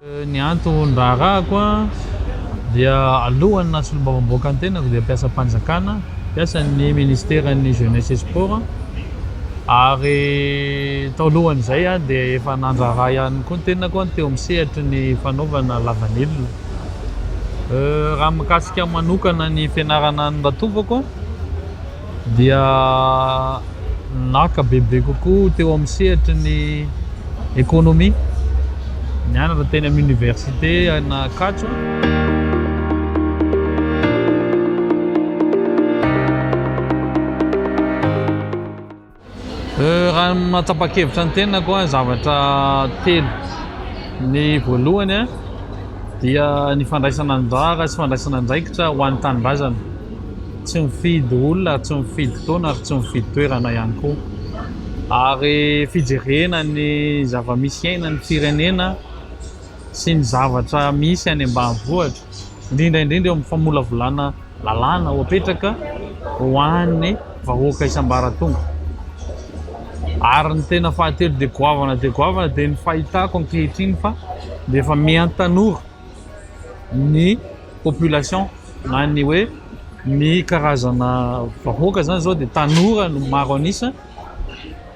Ny anton-draharahako dia alohan'ny naha solombavambahoaka ny tenako dia mpiasam-panjakana, mpiasan'ny Ministeran'ny Jeunesse et Sport, ary tao lohan'izay aho dia efa nandraharaha ihany koa ny tenako teo amin'ny sehatry ny fanaovana lavanila. Raha mikasika manokana ny fianarana ny ratovako. dia naka bebe kokoa teo amin'ny sehatry ny ekonomia, nianatra teny amin'ny oniversite an'Ankatso. Raha ny mahatsapa-kevitra ny tenako an, zavatra telo, ny voalohany an dia ny fandraisana anjara sy fandraisana andraikitra ho an'ny tanindrazana, tsy mifidy olona ary tsy mifidy taona ary tsy mifidy toerana ihany koa, ary fijerena ny zava-misy iainan'ny firenena sy ny zavatra misy any ambanivohitra, indrindra indrindra eo amin'ny famolavolana. Lalàna ho apetraka ho an'ny vahoaka isambaratonga. Ary ny tena fahatelo dia goavana dia goavana dia ny fahitako ankehitriny fa dia efa miantanora ny population na ny hoe ny karazana vahoaka izany izao dia tanora no maro an'isa,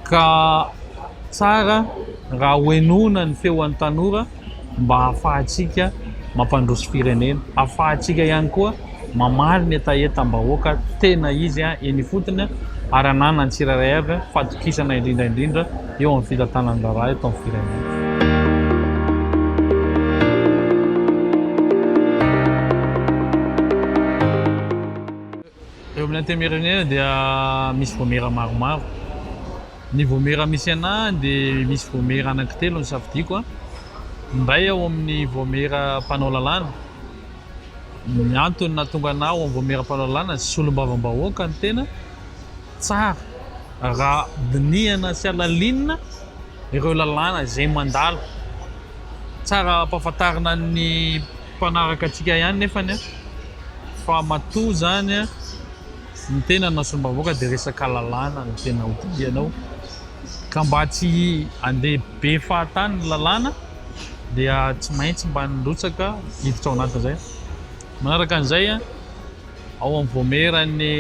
Ka tsara raha hohenoina ny feon'ny tanora mba hahafahantsika mampandroso firenena, hahafahantsika ihany koa mamaly ny hetahetam-bahoaka tena izy eny ifotony ary hananan'ny tsirairay avy fatokisana indrindra indrindra eo amin'ny fitantanana ny raharaha eto amin'ny firenena. Eo amin'ny antenimieran'Iana dia misy voamera maromaro. Ny voamera misy anah dia misy voamera anankitelo nosafidiako. Ny iray ao amin'ny voamera mpanao lalàna. Ny antony nahatonga anah ao amin'ny voamera mpanao lalàna, solombavambahoaka ny tena. Tsara raha dinihana sy halalinina ireo lalàna izay mandalo. Tsara ampahafantarina ny Mpanaraka antsika ihany nefany an! Fa matoa zany an! Ny tena na sombavoka dia resaka lalàna no tena hodidianao! Ka mba tsy handeha be fahatany ny lalàna dia tsy maintsy mba nirotsaka hiditra ao anatin'izay! Manaraka an'izay an! ao amin'ny voamieran'ny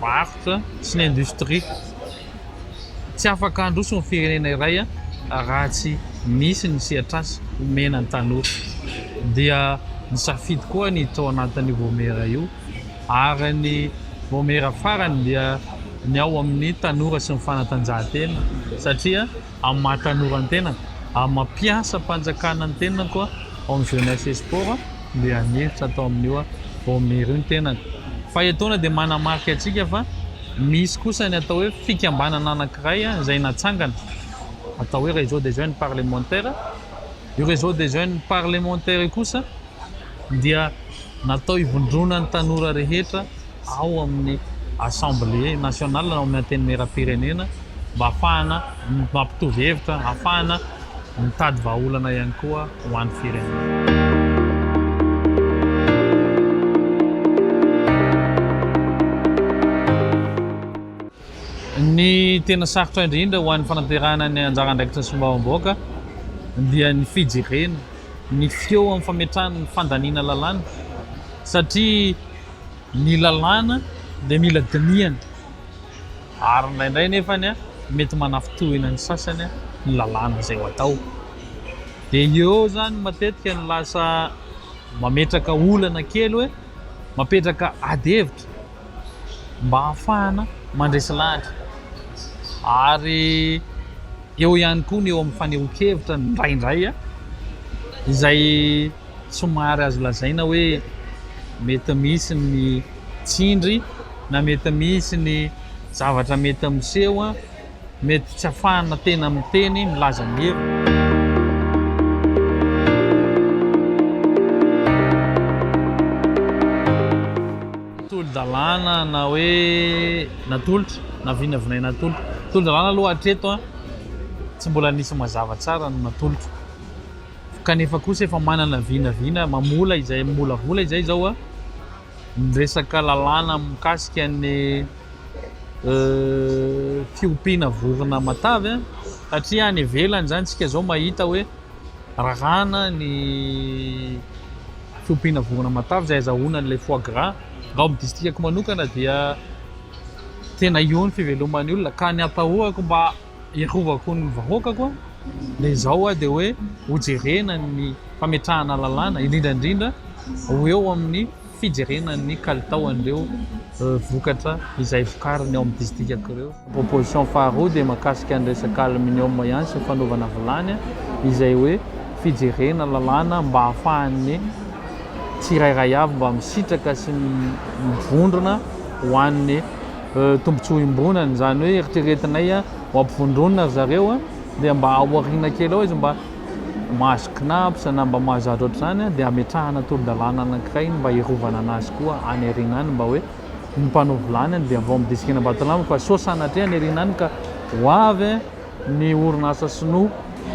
varotra sy ny indostria. Tsy afaka handroso ny firenena iray raha tsy misy ny sehatrasa omena ny tanora. Dia nisafidy koa ny tao anatin'io voamiera io ary ny voamiera farany dia ny ao amin'ny tanora sy ny fanatanjahantena satria amin'ny maha tanora ny tenako, amin'ny maha mpiasam-panjakana ny tenako ao amin'ny jeunesse et sport dia hanefitra atao amin'io aho, vao miry io ny tenako. Fa etoana dia manamarika antsika fa misy kosa ny atao hoe fikambanana anankiray izay natsangana, atao hoe réseau des jeunes parlementaires, io réseau des jeunes parlementaires io kosa, dia natao hivondrona ny tanora rehetra ao amin'ny Assemblée nationale na ao amin'ny Antenimierampirenena mba hahafahana mampitovy hevitra, hahafahana mitady vahaolana ihany koa ho an'ny firenena. Ny tena sarotra indrindra ho an'ny fanaterahana ny anjara andraikitra solombavambahoaka dia ny fijerena ny feo amin'ny fametrahana ny fandaniana lalàna satria ny lalàna dia mila dinihana ary indraindray anefa mety manafintohina ny sasany ny lalàna izay atao dia eo izany matetika no lasa mametraka olana kely hoe mapetraka ady hevitra. mba hahafahana mandresy lahatra ary eo ihany koa ny eo amin'ny fanehoan-kevitra indraindray izay somary azo lazaina hoe mety misy ny tsindry na mety misy ny zavatra mety miseho Mety tsy afahana tena miteny milaza ny heviny. Tolo-dalàna na hoe natolotra na vinavinaina atolotra. Tolo-dalàna aloha hatreto an, tsy mbola nisy mazava tsara ny natolotra. Kanefa kosa efa manana vinavina mamola izay, mamolavola izay izao an, Ny resaka lalàna mikasika ny fiompiana vorona matavy satria any ivelany izany isika izao mahita hoe raràna ny fiompiana vorona matavy izay azahoana an'ilay foie gras. Raha ao amin'ny distrikako manokana dia tena eo ny fiveloman'ny olona ka ny atahorako mba Hiarovako ny vahoakako an! dia izao an! dia hoe hojerena ny fametrahana lalàna, indrindra indrindra ho eo amin'ny fijerena ny kalitao an'ireo vokatra izay vokariny ao amin'ny disidikako ireo. Proposition faharoa dia mahakasika ny resaka aluminium ihany sy ny fanaovana vilany an! izay hoe fijerena lalàna mba hahafahan'ny tsirairay avy mba misitraka sy mivondrona ho an'ny Tombotsoa iombonana, izany hoe eritreretinay ho ampivondronina ry zareo dia mba aoriana kely ao izy mba mahazo CNAPS na mba mahazatra ohatr'izany dia ametrahana tolo-dalàna anankiray mba hiarovana an'azy koa any aoriana any mba hoe ny mpanao vilany dia vao amin'ny disik'Enambatolampo fa sao sanatria any aoriana any ka ho avy ny orinasa sinoa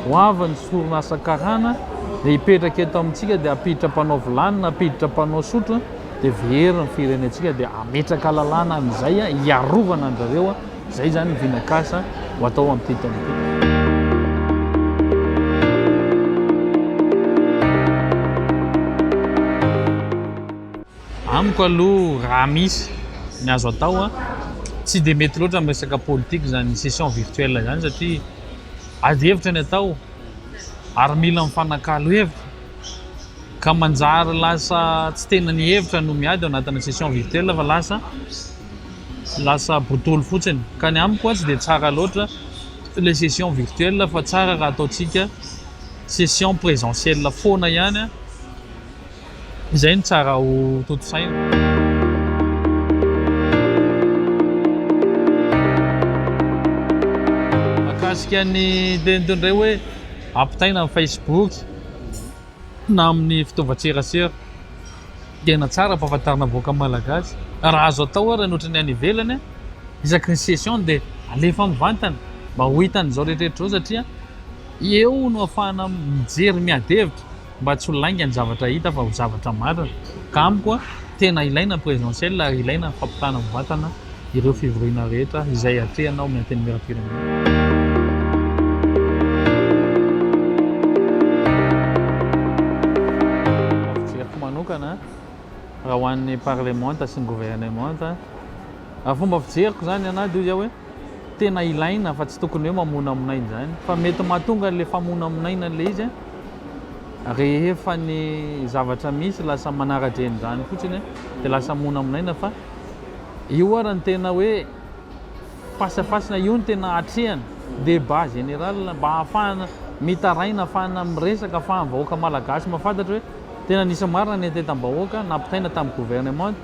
hoaviny sy orinasa karana dia hipetraka eto amintsika dia hampiditra mpanao vilany na hampiditra mpanao sotro dia very ny firenentsika dia hametraka lalàna an'izay hiarovana anjareo izay izany ny vinakasa ho atao amin'ity taona ity. Amiko aloha raha misy ny azo atao an, tsy dia mety loatra amin'ny resaka politika izany session virtuelle izany satria ady hevitra ny atao ary mila mifanakalo hevitra ka manjary lasa tsy tena ny hevitra no miady ao anatina session virtuelle fa lasa lasa botolo fotsiny ka ny amiko an tsy dia tsara loatra ilay session virtuelle fa tsara raha ataontsika session presentielle foana ihany an. Izay no tsara ho tontosaina. Mahakasika ny teny toy ny hoe ampitaina amin'ny Facebook na amin'ny fitaovan-tserasera. Tena tsara ampahafantarina ny vahoaka malagasy. Raha azo atao ary ny ohatran'ny any ivelany, isaky ny session dia alefa mivantana mba ho hitan'izao rehetra rehetra izao satria eo no ahafahana mijery miady hevitra. mba tsy ho lainga ny zavatra hita fa ho zavatra marina ka amiko tena ilaina ny presidentielle ary ilaina ny fampitana mivantana ireo fivoriana rehetra izay atrehina ao amin'ny antenimieram-pirenena. manokana raha ho an'ny parlemanta sy ny governemanta raha fomba fijeriko zany ana de ozy aho hoe tena ilaina fa tsy tokony hoe mamonamonaina izany fa mety mahatonga an'ilay famonamonaina an'ilay izy a, rehefa ny zavatra misy lasa manara-dreny izany fotsiny a, dia lasa monamonaina fa io ary ny tena hoe face à face na io no tena atrehana, débat général mba ahafahana mitaraina, ahafahana miresaka, ahafahan'ny vahoaka malagasy mahafantatra hoe tena nisy marina ny antentam-bahoaka nampitaina tamin'ny gouvernement.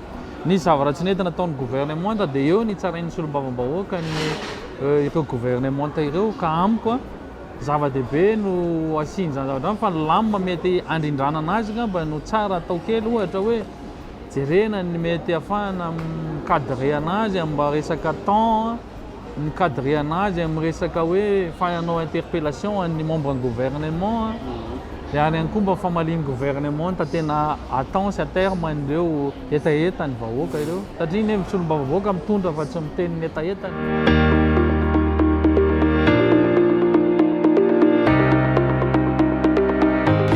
Nisy zavatra tsy nety nataon'ny governemanta dia eo nitsarain'ny solombavambahoaka ny ireo governemanta ireo ka amiko zava-dehibe no asian'izany zavatra izany fa ny lamina mety handrindranana azy angamba no tsara atao kely ohatra hoe jerena ny mety hahafahana mi-cadrer-ana azy amin'ny resaka temps ni-cadrena azy amin'ny resaka hoe fa hanao interpellation an'ny membre ny gouvernement an, dia any ihany koa mba famalian'ny gouvernement ny tena attend sy à terme an'ireo hetaheta ny vahoaka ireo satria ny hevitry olom-bavavoaka mitondra fa tsy miteny ny hetahetany.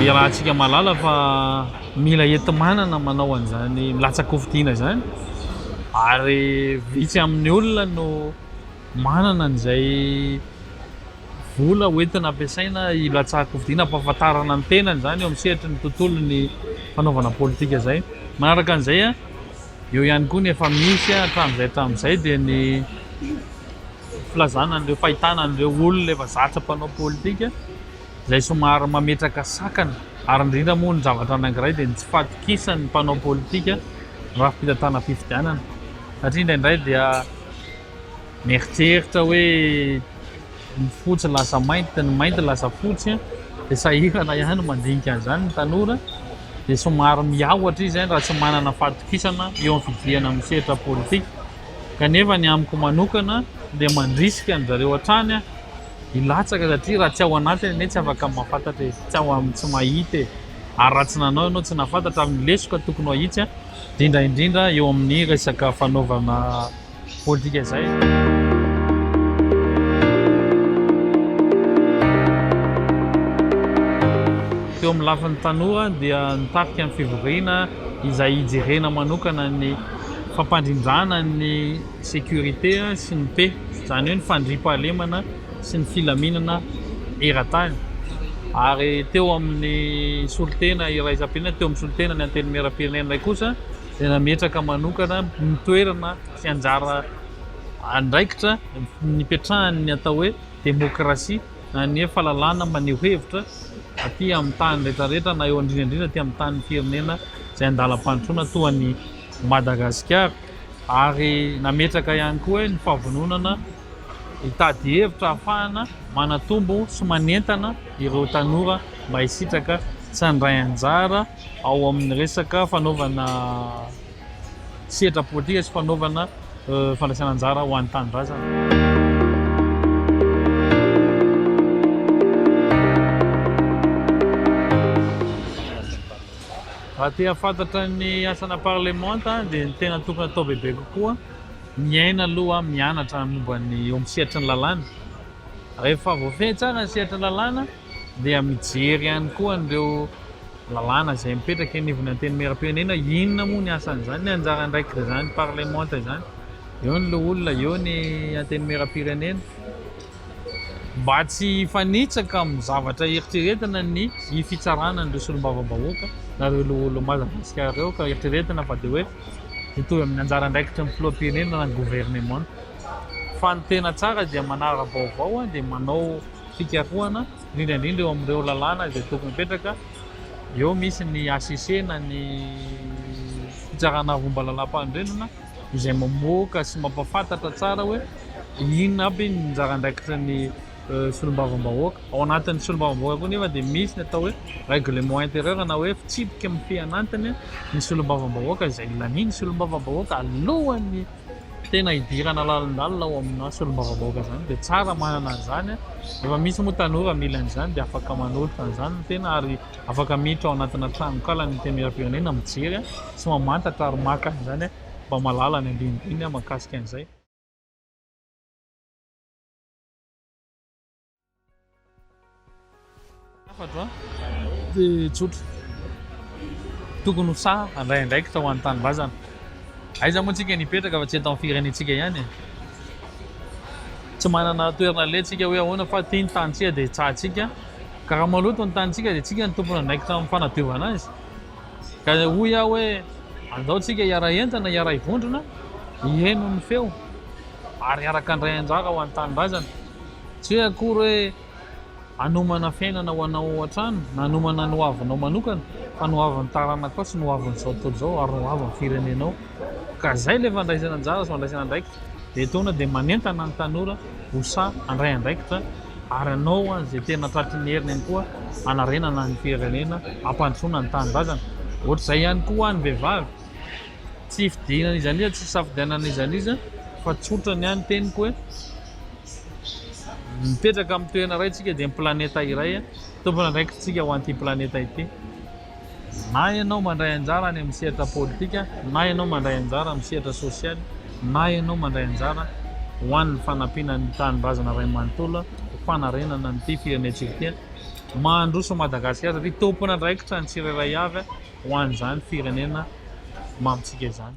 Iarahantsika mahalala fa Mila enti-manana manao an'izany milatsa-kofidiana izany ary vitsy amin'ny olona no manana an'izay vola ho entina ampiasaina hilatsahan-kofidiana hampahafantarana ny tenany izany eo amin'ny sehatry ny tontolon'ny fanaovana politika izay. Manaraka an'izay, eo ihany koa ny efa misy hatramin'izay hatramin'izay dia ny filazana an'ireo fahitana an'ireo olona efa zatra mpanao politika, izay somary mametraka sakana ary indrindra moa ny zavatra anankiray dia ny tsy fahatokisan'ny mpanao politika ny rafi-pitantanam-pifidianana satria indraindray dia mieritreritra hoe ny fotsy lasa mainty, ny mainty lasa fotsy dia sahirana ihany mandinika an'izany ny tanora dia somary miahotra izy raha tsy manana fahatokisana eo amin'ny fidihana amin'ny sehatra politika kanefa ny amiko manokana dia mandrisika an-dry zareo hatrany aho. Hilatsaka satria raha tsy ao anatiny anie tsy afaka mahafantatra e, tsy ao aminy tsy mahita e, ary raha tsy nanao ianao tsy nahafantatra amin'ny lesoka tokony ho ahitsy indrindra indrindra eo amin'ny resaka fanaovana politika izay. Teo amin'ny lafiny tanora dia ny tafika ny fivoriana izay hijerena manokana ny fampandrindrana ny sécurité sy ny paix izany hoe ny fandriampahalemana sy ny filaminana eran-tany ary teo amin'ny solontena iraisam-pirenena teo amin'ny solontena ny antenimieram-pirenena iray kosa dia nametraka manokana ny toerana sy anjara andraikitra nipetrahan'ny atao hoe demokrasia na ny hoe fahalalana maneho hevitra aty amin'ny tany rehetrarehetra na eo indrindra indrindra aty amin'ny tanin'ny firenena izay an-dalam-pandrosoana toa an'i Madagasikara. ary nametraka ihany koa hoe ny fahavononana hitady hevitra ahafahana manatombo sy manentana ireo tanora mba hisitraka sy handray anjara ao amin'ny resaka fanaovana sehatra politika sy fanaovana fandraisana anjara ho an'ny tanindrazana. Raha te hahafantatra ny asana parlemanta dia ny tena tokony atao bebe kokoa, miaina aloha, mianatra momba ny eo amin'ny sehatry ny lalàna. Rehefa voafehy tsara ny sehatry ny lalàna dia mijery ihany koa an'ireo lalàna izay mipetraka eny ivon'ny antenimieram-pirenena, inona moa ny asan'izany, ny anjara andraikitr'izany parlemanta izany. Eo ny loholona, eo ny antenimieram-pirenena. mba tsy hifanitsaka amin'ny zavatra eritreretina ny hifitsarana an'ireo solombavambahoaka na ireo loholon'i Madagasikara ireo ka eritreretina fa dia hoe hitovy amin'ny anjara andraikitry ny filoham-pirenena na ny governemanta fa ny tena tsara dia manara-baovao dia manao fikarohana indrindra indrindra eo amin'ireo lalàna izay tokony hipetraka eo misy ny HCC na ny fitsarana roa mba lalàmpanorenana izay mamoaka sy mampahafantatra tsara hoe inona aby ny anjara andraikitry ny solombavambahoaka. Ao anatin'ny solombavambahoaka koa nefa dia misy ny atao hoe règlement intérieur na hoe fitsipika mifehan'antiny ny solombavambahoaka izay lanian'ny solombavambahoaka alohan'ny tena hidirana lalindalina ao amina solombavambahoaka izany dia tsara manana an'izany. Efa misy moa tanora mila an'izany dia afaka manolotra an'izany ny tena ary. afaka miditra ao anatina tranonkala ny antenimierampirenena mijery sy mamantatra ary maka an'izany mba mahalala ny andinindininy mahakasika an'izay. Hafatra dia tsotra. Tokony ho sahy handray andraikitra ho an'ny tanindrazana. Aiza moa tsika no hipetraka fa tsy eto amin'ny firenentsika ihany e. Tsy manana toerana leha tsika hoe ahoana fa ity ny tanintsika dia tsahatsika. Ka raha maloto ny tanintsika dia tsika no tompon'andraikitra amin'ny fanadiovana azy. Ka hoy aho hoe andao tsika hiara-hentina, hiara-hivondrona, hiheno ny feo ary hiaraka handray anjara ho an'ny tanindrazana. Tsy hoe akory hoe hanomana fiainana ho anao ao an-trano na hanomana ny hoavinao manokana fa ny hoavin'ny taranakao sy ny hoavin'izao tontolo izao ary ny hoavin'ny firenenao. Ka izay ilay fandraisana anjara sy fandraisana andraikitra. Dia etoana dia manentana ny tanora ho sahy handray andraikitra. ary hanao izay tena tratry ny heriny ihany koa hanarenana ny firenena, hampandrosoana ny tanindrazana. Ohatr'izay ihany koa ho an'ny vehivavy. Tsy hifidianana iza n'iza, tsy hisafidianana iza n'iza fa tsotra ny ahy ny teniko hoe mipetraka amin'ny toerana iray isika dia ny planeta iray, tompon'andraikitr'isika ho an'ity planeta ity. Na ianao mandray anjara any amin'ny sehatra politika, na ianao mandray anjara amin'ny sehatra sosialy, na ianao mandray anjara ho an'ny fanampiana ny tanindrazana iray manontolo ho fanarenana an'ity firenentsika ity, mandroso an'i Madagasikara satria tompon'andraikitra ny tsirairay avy ho an'izany firenena mamintsika izany.